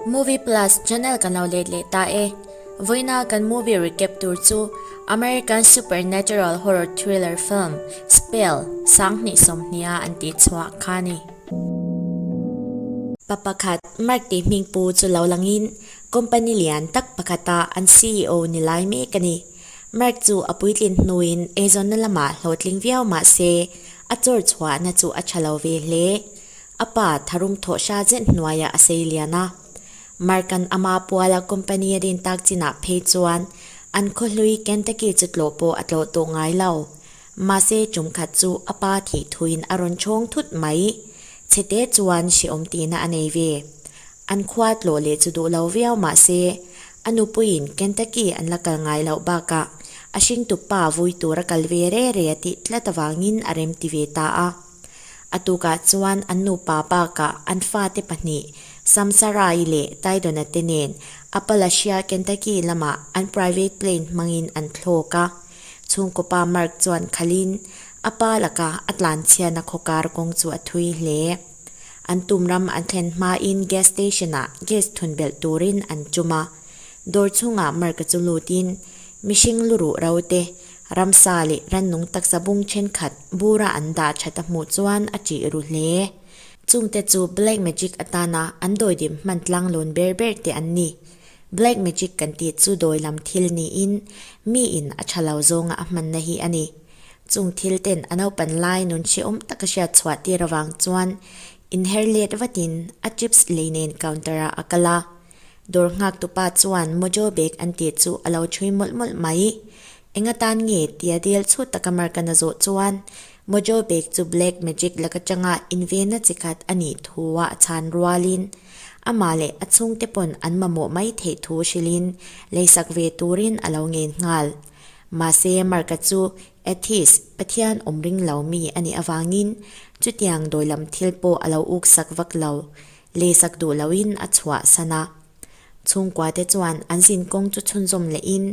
Movie Plus channel kan lo let leh ta e. Vawiina kan movie recap tur chu American supernatural horror thriller film Spell sang hnih sawmhnia an tih chhuah kha ni. Pa pakhat Mark tih hming pu chu lo langin company lian tak pakhata an CEO ni lai mek a ni. Mark chu a puitlin hnuin eizawnna lamah hlawhtling viau mahse a chawr chhuahna chu a tha lo ve hle. A pa Tharum Thawhsha zet hnuaiah a sei lian a. Markan ama Puala company a din tak chinah phei chuan an khawhlui Kentucky chu tlawh pawh a tlawh tawh ngai lo. Mahse tum khat chu a pa thih thuin a rawn chhawng thut mai. Chhete chuan hreawm tihna a nei ve. An khua tlawh leh chu duh lo viau mahse a nupuiin Kentucky an la kal ngai loh bakah a hringtup pa vui tur a kal ve rere a tih tlat avangin a remti ve ta a. A tukah chuan an nupa baka an fate pahnih Samsarai leh Taidona te nen Appalachia, Kentucky lamah an private plane hmangin an thlawk a. Chhungkawpa Mark chuan khalhin a pa laka a tlanchhiahna khawkar kawng chu a thui hle. An tum ram an thlen hmain gas station ah gas thun belh turin an tum a. Dawr chhungah Mark-a chu lutin mihring lu ruh rote Ramsa leh Rannung taksa bung thenkhat bura an dah that a hmuh chuan a tih ru hle. Chungte chu Black Magic atana an dawidim hman tlanglawn ber ber te an ni. Black Magic kan tih chu dawi lam thil niin mi in a tha lo zawnga a hmanna hi a ni. Chung thil ten a naupan lai nun chhiawm taka hriat chhuah tir avang chuan inherlet vatin a chips lei nen counter ah a kal a. Dawr nghaktu pa chuan Mojo bag an tih chu a lo ṭhui mawlh mawlh mai. Enga tan nge? tia dial chhut taka Markan a zawh chuan, Mojo bag chu Black Magic lak aṭanga invenna chi khat a nih thu a a chhan rualin, amah leh a chhungte pawn an mamawh mai theih thu hrilhin leisak ve turin a lo ngen nghal. Mahse, Marka chu Atheist, Pathian awm ring lo, mi a nih avangin chutiang dawilam thil pawh a lo uk sak vak lo. Lehsak duh loin a chhuah san a. Chhungkuate chuan an zin kawng chu chhunzawm lehin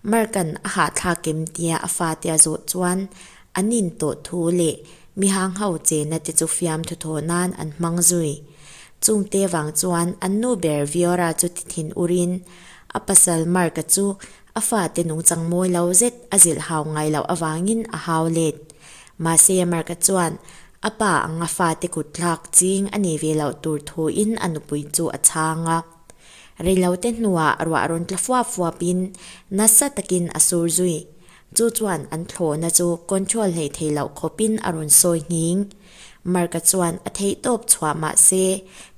Markan a hahthlak kem tia a fate a zawt chuan an in tawh thu leh mi hang ho che na te chu fiam thu thaw nan an hmang zui. Chung te vang chuan an nu ber Viora chu tithin urin a pasal Marka chu A fate nung changmawi lo zet a zilh hau ngai loh avangin a hau let. Mahse Mark-a chuan a pa ang a fate kut thlak ching a nei ve loh tur thuin a nupui chu a chhang a. Reilote hnuah ruah rawn tla fuap fuapin nasa takin a sur zui. Chu chuan an thlawhna chu control hleih thei loh khawpin a rawn sawi nghing. Marka chuan a thei tawp chhuah mah se,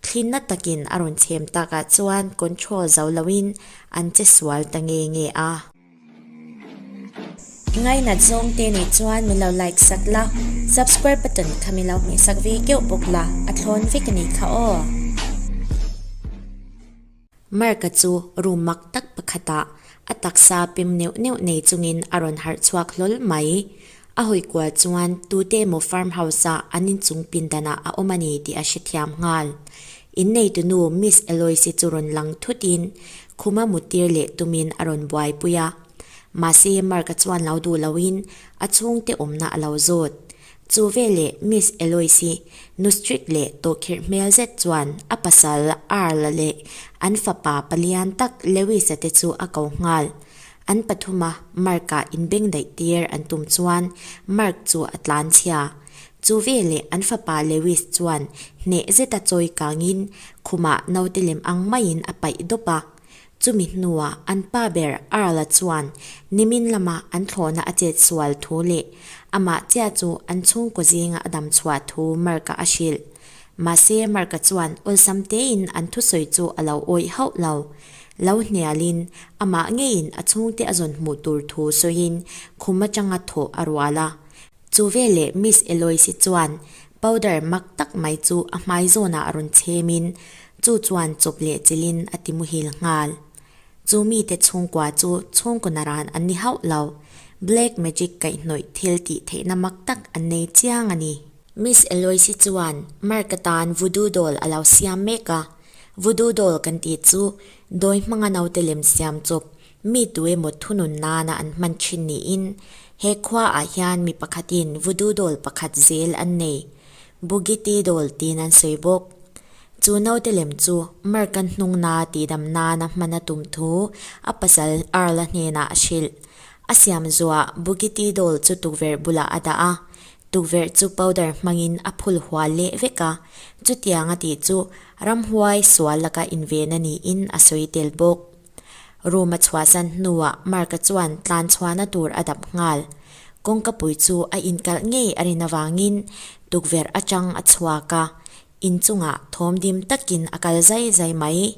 thlinna takin a rawn chhem takah chuan control zo loin an che sual ta nge nge a. I ngainat zawng te nih chuan min lo like sak la, subscribe button kha min lo hmeh sak ve keuh bawk la, a thlawn vek a ni kha aw. Mark-a chu room mak tak pakhatah a taksa pim neuh neuh nei chungin a rawn harh chhuak hlawl mai. A hawi kual chuan tute emaw farm house-a an inchung pindanah a awm a ni tih a hrethiam nghal. Inneitunu Miss Eloise chu rawn lang thutin khuma mutir leh tumin a rawn buaipui a. Mahse Mark-a chuan lo duh loin a chhungte awmna a lo zawt. Chu veleh Miss Eloise nu strict leh tawhkhirh hmel zet chuan a pasal Earl leh an fapa palian tak Lewis-a te chu a ko nghal. An pathuma Mark-a inbeng daih tir an tum chuan Mark chu a tlan chhia. Chu veleh an fapa Lewis chuan hneh zeta chawi kangin khumah naute lem ang maiin a paih dawp a. Chumi hnuah an pa ber Earl-a chuan Nimin lama an thlawhna a chet sual thu leh amah chiah chu an chhungkaw zinga a dam chhuah thu Mark-a a hrilh. Mahse, Mark-a chuan awlsam tein an thusawi chu a lo awih hauh lo. Lo hnialin amah ngeiin a chhungte a zawn hmuh tur thu sawiin khum atanga thawh a rual a. Chu veleh Miss Eloise chuan powder mak tak mai chu a hmai zawnah a rawn chhemin chu chuan chawp leh chilhin a ti muhil nghal. Chu mite chhungkua chu chhungkaw na ran an ni hauh lo. Black magic kaihhnawih thil tih theihna mak tak an nei chiang a ni. Miss Eloise chuan Mark atan Voodoo Doll a lo siam mek a. Voodoo Doll kan tih chu dawi hmanga naute lem siam chawp Mi tu emaw thunun nana an hman thin niin he khua ah hian mi pakhat in Vudu dawl pakhat zel an nei, Bugiti dawl tiin an sawi bawk. Chu naute lem chu Mark kan hnung na tihdam nana hman a tum thu a pasal Earl-a hnenah a hrilh. A siam zuah Bugiti dawl chu tukverh bulah a dah a, tukverh chu powder hmangin a phul hual leh vek a, chutianga tih chu ramhuai sual laka inven a niin a sawi tel bawk. Room a chhuah zan hnuah Mark-a chuan tlan chhuahna tur a dap nghal. Kawngkapui chu a inkalh ngei a rin avangin tukverh atang a chhuak a, in chungah thawm dim takin a kal zai zai mai.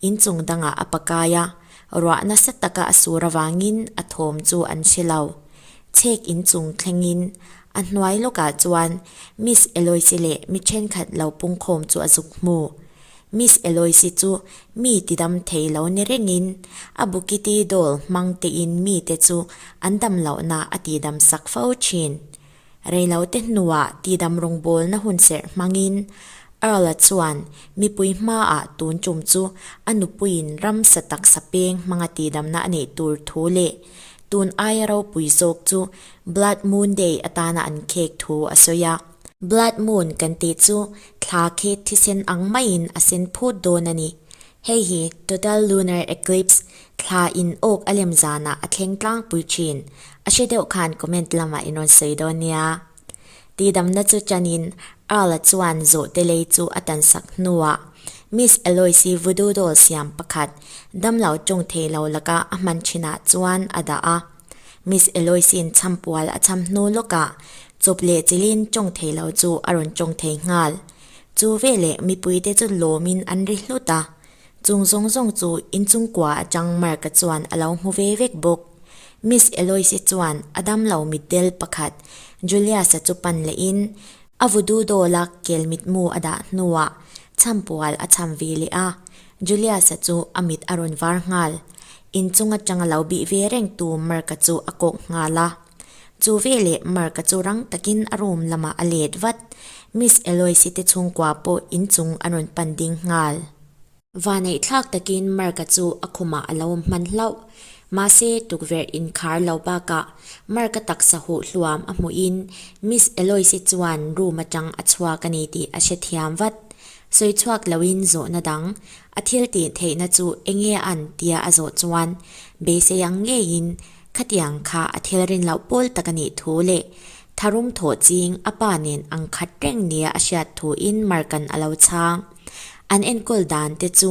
In chung dangah a pakai a, ruah nasa taka a sur avangin a thawm chu an si lo. Chhek in chung thlengin a hnuai lawkah chuan Miss Eloise leh mi thenkhat lo pungkhawm chu a zuk hmu. Miss Eloise chu mi tidam thei lo ni rengin a bukiti dawl hmang tein mite chu an dam lohna a tidam sak fo thin. Reilote hnuah tidam rawngbawlna hun serh hmangin Earl-a chuan mipui hmaah tun tum chu a nupuiin ramsa taksa peng hmanga tidamna a neih tur thu leh tun aia ropui zawk chu Blood Moon Day atana an khek thu a sawi a. Blood Moon kan tih chu Thla khi thisen ang maiin a sen phut dawn a ni. Hei hi Total Lunar Eclipse, Thla in awk a lem zanah a thleng tlangpui thin, a hre deuh khan comment lamah in rawn sawi dawn nia. Tihdamna chu chanin Earl-a chuan zawhte lei chu a tansak hnuah Miss Eloise-i Voodoo Doll siam pakhat damlo ṭung thei lo laka a hman thinah chuan a dah a. Miss Eloise-in champual a cham hnu lawkah chawp leh chilin chawng thei lo chu a rawn chawng thei nghal. Chu veleh mipuite chu lawmin an ri hlut a, chung zawng zawng chu inchungkua atang Mark-a chuan a lo hmu ve vek bawk. Miss Eloise chuan a dam lo mitdel pakhat Julius-a chu pan lehin a vududaw lak kel mitmu a dah hnuah champual a cham ve leh a, Julius-a chu a mit a rawn var nghal. In chung atanga lo bih ve reng tu Mark-a chu a kawk nghal a. Chu veleh Mark-a chu rang takin a room lamah a let vat. Miss Eloise-te chhungkua pawh in chung an rawn pan ding nghal. Vaneih thlak takin Mark-a chu a khumah a lo hman hlauh. Mahse, tukverh inkhar lo bakah Mark-a taksa huh hluam a hmuhin Miss Eloise chuan room atang a chhuak a ni tih a hre thiam vat. Sawi chhuak loin zawhna dang a thiltih theihna chu eng nge an tia a zawh chuan beisei ang ngeiin khatiang kha a thilrin loh pawl tak a nih thu leh tharum thawh ching a pa nen ang khat reng nia a hriat thu in markan a lo chhang. An enkawl dan te chu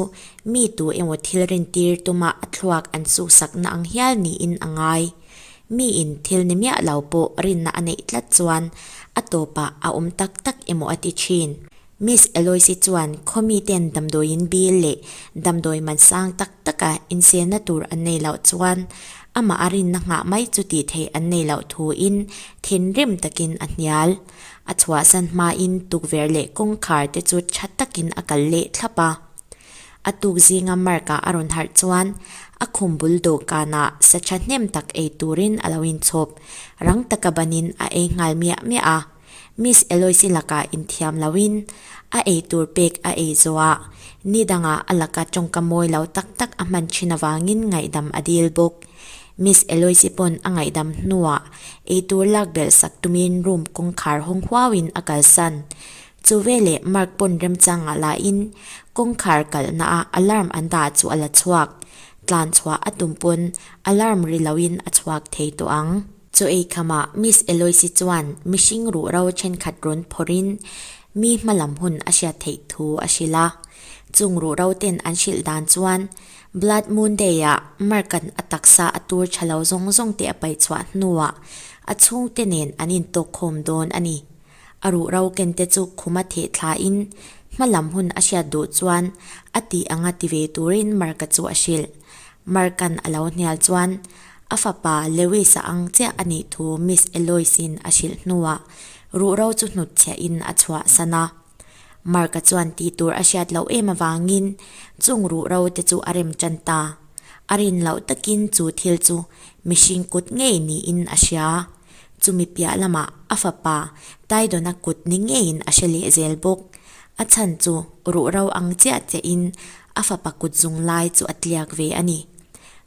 mi tu emaw thilrin tir tuma a thluak an suhsakna ang hial niin a ngai. Mi in thil ni miah lo pawh rinna a neih tlat chuan a tawpah a awm tak tak emaw a ti thin. Miss Eloise chuan khawmi ten damdawiin bil leh damdawi man sang tak taka inselna tur an nei loh chuan amah a rinna nghah mai chu tih theih an nei loh thuin thinrim takin a hnial. A chhuahsan hmain tukverh leh kawngkhar te chu tha takin a kal leh thlap a. A tuk zinga Mark-a a rawn harh chuan a khum bul dawhkanah sa tha hnem tak ei turin a lo inchhawp. Rang taka banin a ei nghal miah miah a. Miss Eloise laka inthiam loin a ei tur pek a ei zawh a, ni danga a laka tawngka mawi lo tak tak a hman thin avangin ngaihdam a dil bawk. Miss Eloise pawn a ngaihdam hnuah ei tur lak belh sak tumin room kawngkhar hawng huauin a kalsan. Chu veleh Mark pawn remchang ngah lahin kawngkhar kalhnaah alarm an dah chu a la chhuak. Tlan chhuah a tum pawn alarm ri loin a chhuak thei tawh ang. Chu ei khama Miss Eloise chuan mihring ruhro thenkhat rawn phawrhin mi hma lam hun a hriat theih thu a hrilh a. Chung ruhro ten an hrilh dan chuan Blood Moon Day ah Mark-an a taksa a tur tha lo zawng zawng te a paih chhuah hnuah a chhungte nen an intawkkhawm dawn a ni. A ruhro kente chu khum a theh thlain hma lam hun a hriat duh chuan a tih anga ti ve turin Mark-a chu a hrilh. Mark-an a lo hnial chuan A fapa Lewis-a ang chiah a nih thu Miss Eloise-in a hrilh hnuah ruhro chu hnut chhiahin a chhuahsan a. Mark-a chuan tih tur a hriat loh em avangin chung ruhro te chu a rem ṭan ta. A rin loh takin chu thil chu mihring kut ngei niin a hria. Chumi piah lamah a fapa Taidona kut ni ngeiin a hre leh zel bawk. A chhan chu ruhro ang chiah chiahin a fapa kut zung lai chu a tliak ve a ni.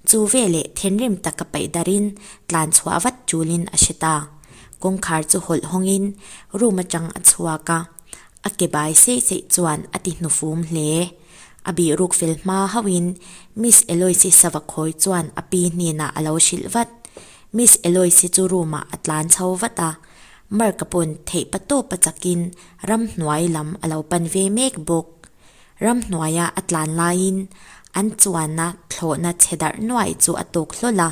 Chu ve leh thenrim tak a paih darin tlan chhuah vat tulin a hre ta. Kawngkhar chu hawlh hawngin room atang a chhuak a, a ke bai sei sei chuan a ti hnufum hle. A bihruk fel hma hauhin Miss Eloise Savakhawi chuan a pi hnenah a lo hrilh vat. Miss Eloise chu room ah a tlan chho vat a, Mark-a paw'n theih pa tawpa chakin ramhnuai lam a lo pan ve mek bawk. Ram hnuaia a tlan laiin an chuanna thlawhna chhe darh nuaih chu a tawk hlawl a,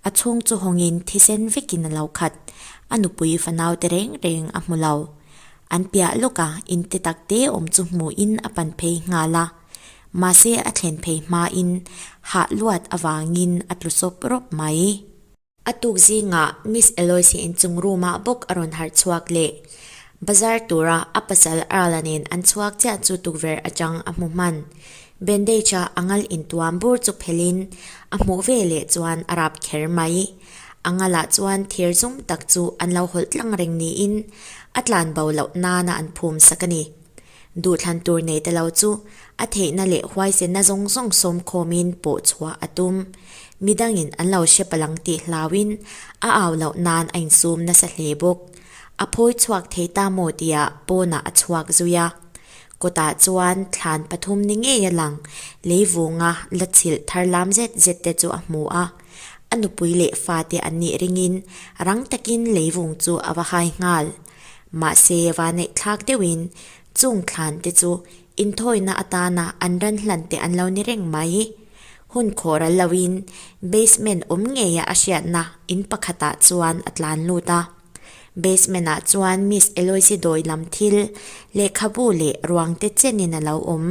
a chhung chu hawngin thisen vekin a lo khat. A nupui fanaute reng reng a hmu lo. An piah lawka inte tak te awm chu hmuhin a pan phei nghal a, mahse a thlen phei hmain hah luat avangin a tlu sawp rawp mai. A tuk zingah Miss Eloise in chung roomah bawk a rawn harh chhuak leh bazar tura a pasal Earla nen an chhuak chiah chu tukverh atang a hmu hman. Bandage-a a ngal intuam bur chu phelhin a hmuh ve leh chuan a rap kher mai. A ngalah chuan thir zum tak chu an lo hawlh tlang reng niin a tlanbo loh nana an phum sak a ni. Duhthlan tur neih te lo chu a theihna leh huaisenna zawng zawng sawmkhawmin pawh chhuah a tum. Mi dangin an lo hre palang tih hlauin a au loh nan a insum nasa hle bawk. A phawi chhuak thei ta maw tia pawnah a chhuak zui a. Kawtah chuan thlan pathum ni ngei a lang leivunga la chhilh thar lam zet zet te chu a hmu a. A nupui leh fate an nih ringin rang takin leivung chu a va hai nghal. Mahse, vaneihthlak deuhin chung thlante chu inthawina atana an ran hlante an lo ni reng mai i, hun khawhral loin basement awm ngeia a hriatna in pakhatah chuan a tlan lut a. Basement-ah chuan Miss Eloise dawi lam thil, lehkhabu leh ruangte chenin a lo awm.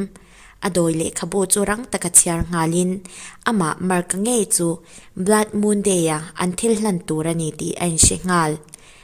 A dawi lehkhabu chu rang taka chhiar nghalin amah Marka ngei chu Blood Moon Day-a an thil hlan tur a ni tih a inhre nghal.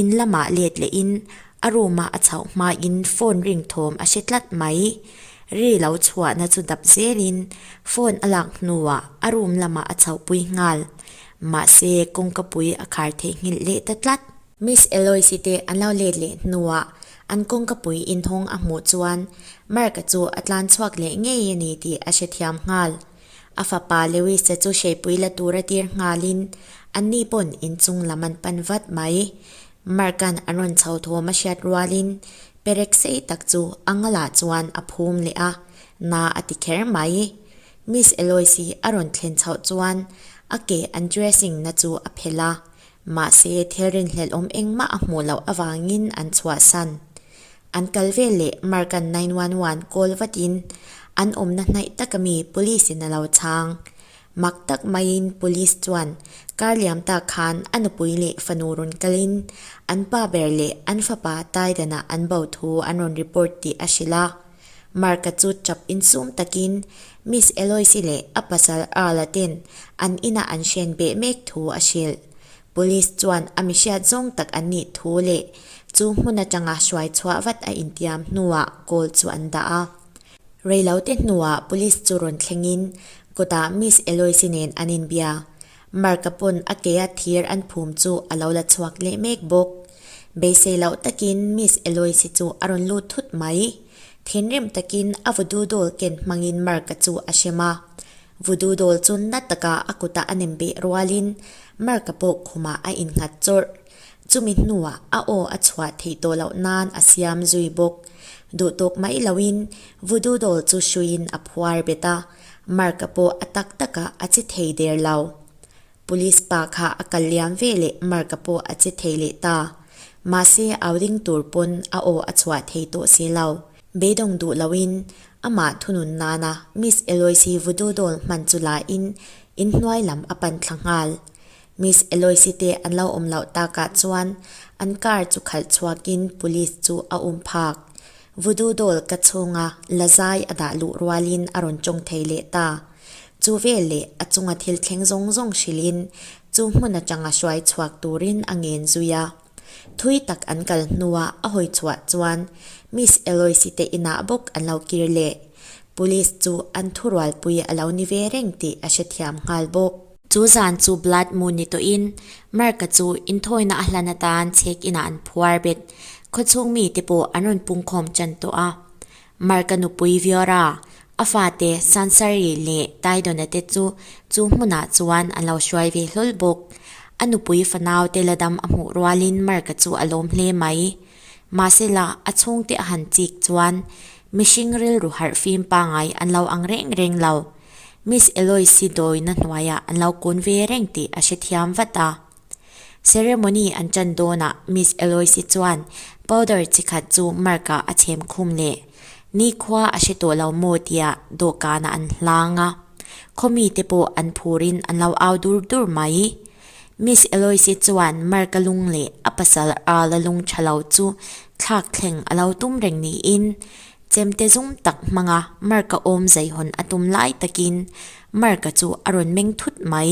In lamah let leh in a room ah a chauh hma in phone ring thawm a hre tlat mai. Ri lo chhuah na chu dap zel in phone a lak hnu ah a room lamah a chauh pui nghal. Mahse kawng ka pui a khar thei nghilh leh ta tlat. Miss Eloise te an lo let leh hnu ah an kawng ka pui in hawng a hmuh chuan Mark chu a tlan chhuak leh ngei a ni tih a hrethiam nghal. A fapa Lewis-a chu hreipui la tur a tir nghalin, Anni pawn inchung lam an pan vat mai. Mark-a'n a rawn chho thawm a hriat rualin, perek sei tak chu a ngalah chuan a phum leh a, na a ti kher mai. Miss Eloise-i a rawn thlen chhoh chuan, A ke an dressing-na chu a phelh a, Mahse, thilrin hlelhawm engmah a hmuh loh avangin an chhuahsan. An kal vel leh Mark-a nine one one call vatin an awmna hnaih taka mi Police-in a lo chhang. Mak tak maiin Police chuan kar liam ta khan a nupui leh fanu rawn kalin an pa ber leh an fapa taidanah an bo thu an rawn report tih a hrilh a. Marka chu chap in sum takin Miss Eloise leh a pasal Arla ten an ina an hrian beh mek thu a hrilh. Police chuan a mihriat zawng tak an nih thu leh chu hmun atanga hruai chhuah vat a intiam hnuah call chu an dah a. Reilote hnuah Police chu rawn thlengin kawtah Miss Eloise nen an inbia. Marka pawn a keia thir an phum chu a lo la chhuak leh mek bawk. Beisei loh takin Miss Eloise chu a rawn lut thut mai. Thinrim takin a vudu dawl ken hmangin Marka chu a hrem a. Vudu dawl chu na taka a kutah a nem beh rualin Marka pawh khumah a innghat chawrh. Chumi hnuah a aw a chhuah theih tawh loh nan a siam zui bawk. Duhtawk mai loin vudu dawl chu hruiin a phuar bet a. Mark-a pawh a tak taka a che thei der lo. Police pa kha a kal liam ve le Mark-a pawh a che thei leh ta. Mahse au ring tur pawn a aw a chhuah thei tawh si lo. Beidawng duh loin amah thunun nana Miss Eloise vudu dawn hman chu lahin in hnuai lam a pan thla nghal. Miss Eloise te an lo awm loh takah chuan an car chu khalh chhuakin Police chu a um phak. Vudu dawl ka chhunga lazai a dah luh rualin a rawn tawng thei leh ta. Chu vel leh a chunga thil thleng zawng zawng hrilhin chu hmun atanga hruai chhuak turin a ngen zui a. Thui tak an kal hnua a hawi chhuah chuan Miss Eloise te inah bawk an lo kir leh. Police chu an thu rualpui a lo ni ve reng tih a hrethiam nghal bawk. Chu zan chu blood moon ni tawhin Mark-a chu inthawina a hlan atan chhek inah an phuar bet. Khawchhung mite pawh an rawn pungkhawm tan tawh a. Mark-a nupui Viora, a fate Sansari leh Taidona te chu chu hmunah chuan an lo hruai ve hlawl bawk. A nupui fanau te la dam a hmuh rualin Mark-a chu a lawm hle mai. Mahsela, a chhungte a han chik chuan Mihring rilru harh fim pangai an lo ang reng reng lo. Miss Eloise dawina hnuaiah an lo kun ve reng tih a hrethiam vat a. Ceremony an tan dawnah Miss Eloise chuan powder chi khat chu Mark-ah a chhem khum leh nikhua a hre tawh lo maw tia dawhkanah an hlang a. Khawmite pawh an phur in an lo au dur dur mai. Miss Eloise chuan Mark-a lung leh a pasal Earl-a lung tha lo chu thlak thleng a lo tum reng niin, chemte zum tak hmanga Mark-a awm zeihawn a tum lai takin Mark-a chu a rawn meng thut mai.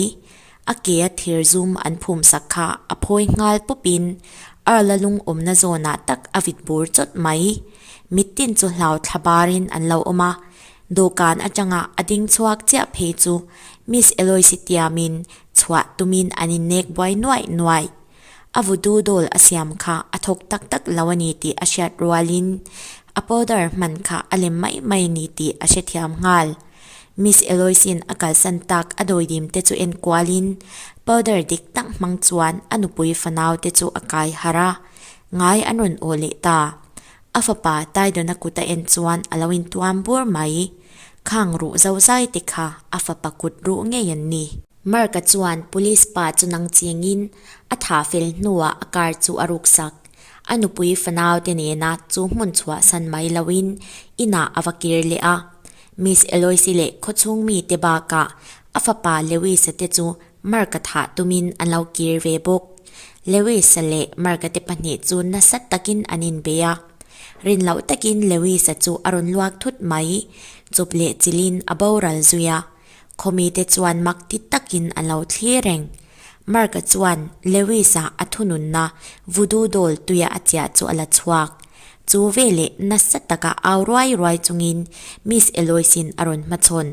A kea thir zum an phum sak kha a phawi nghal pawpin Earl-a lung awmna zawnah tak a vit bur chawt mai. Mittin chu hlau thla barin an lo awm a, dawhkan atanga a ding chhuak chiah phei chu Miss Eloise tiamin chhuah tumin an innek buai nuai nuai. A vutu dawl a siam kha a thawk tak tak lo a ni tih a hriat rualin a powder hman kha a lem mai mai a ni tih a hrethiam nghal. Miss Eloise-in a kalsan tak a dawidim te chu enkualin powder dik tak hmang chuan a nupui fanaute chu a kai harh a, ngai an rawn aw leh ta. A fapa Taidona kut a en chuan a lo intuam bur mai i, Khang ruh zo zai te kha a fapa kut ruh ngei an ni. Marka chuan Police pa chu nang chiang in a tha fel hnuah a car chu a ruk sak. A nupui fanau te nena chu hmun chhuah san mai lo in inah a va kir leh a. Miss Eloise leh khawchhung mi te bakah a fapa Lewis-a te chu Marka thah tumin an lo kir ve bawk. Lewisa leh Markate pahnih chu nasa takin an inbei a. Rin loh takin Lewisa chu a rawn luak thut mai. Chup leh chilhin a boral zui a. Khawmite chuan mak ti takin an lo thlir reng. Marka chuan Lewisa a thununna vudu dawl tuia a chiah chu a la chhuak. Chu veleh nasa taka au ruai ruai chungin Miss Eloise-in a rawn hmachhawn.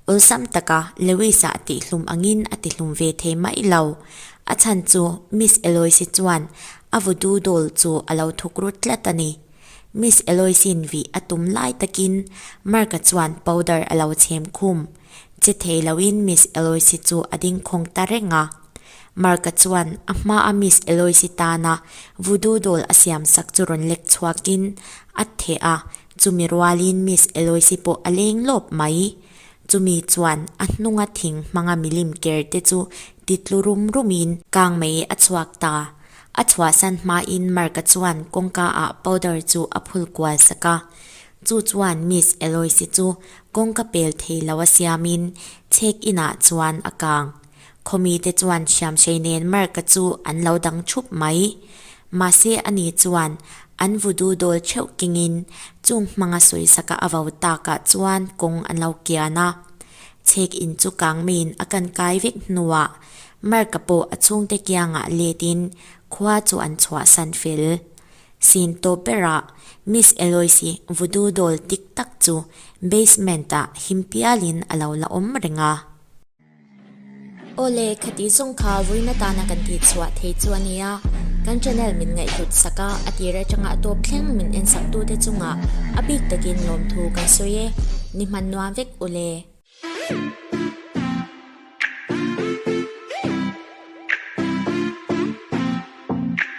Awlsam taka Lewis-a a tihhlum angin a tihlum ve thei mai lo. A chhan chu Miss Eloise chuan a vudu dawl chu a lo thuk rut tlat a ni. Miss Eloise-in vih a tum lai takin Mark-a chuan powder a lo chhem khum. Che thei loin Miss Eloise chu a dingkhawng ta reng a. Mark-a chuan a hmaa Miss Eloise tana vudu dawl a siamsak chu rawn lek chhuakin a theh a, Chumi rualin Miss Eloise pawh a leng lawp mai. Chumi chuan a hnunga thing hmanga milim ker te chu ti tlu rum rumin kang mai a chhuak ta. A chhuahsan hmain Mark-a chuan kawngka ah powder chu a phul kual sak a. Chu chuan Miss Eloise chu kawngka pel thei lo a siamin check-in ah chuan a kang. Khawmi te chuan Siamsei nen Mark-a chu an lo dang thup mai. Mahse ani chuan an vudu dawl theuh kengin chung hmanga sawi saka a vau takah chuan kawng an lo kian a. Chhek in chu kang maiin a kan kai vek hnuah Mark-a pawh a chhungte kiangah letin khua chu an chhuahsan fel. Sin tawp berah Miss Eloise vudu dawl tik tak chu basement-ah him pialin a lo la awm reng a. Awle, khatih zawng kha vuina tana kan tih chhuah thei chu a nia, kan channel min ngaihhlut sak a, a tir atanga tawp thleng min en saktute chungah a bik takin lawmthu kan sawi e, ni hman nuam vek ule.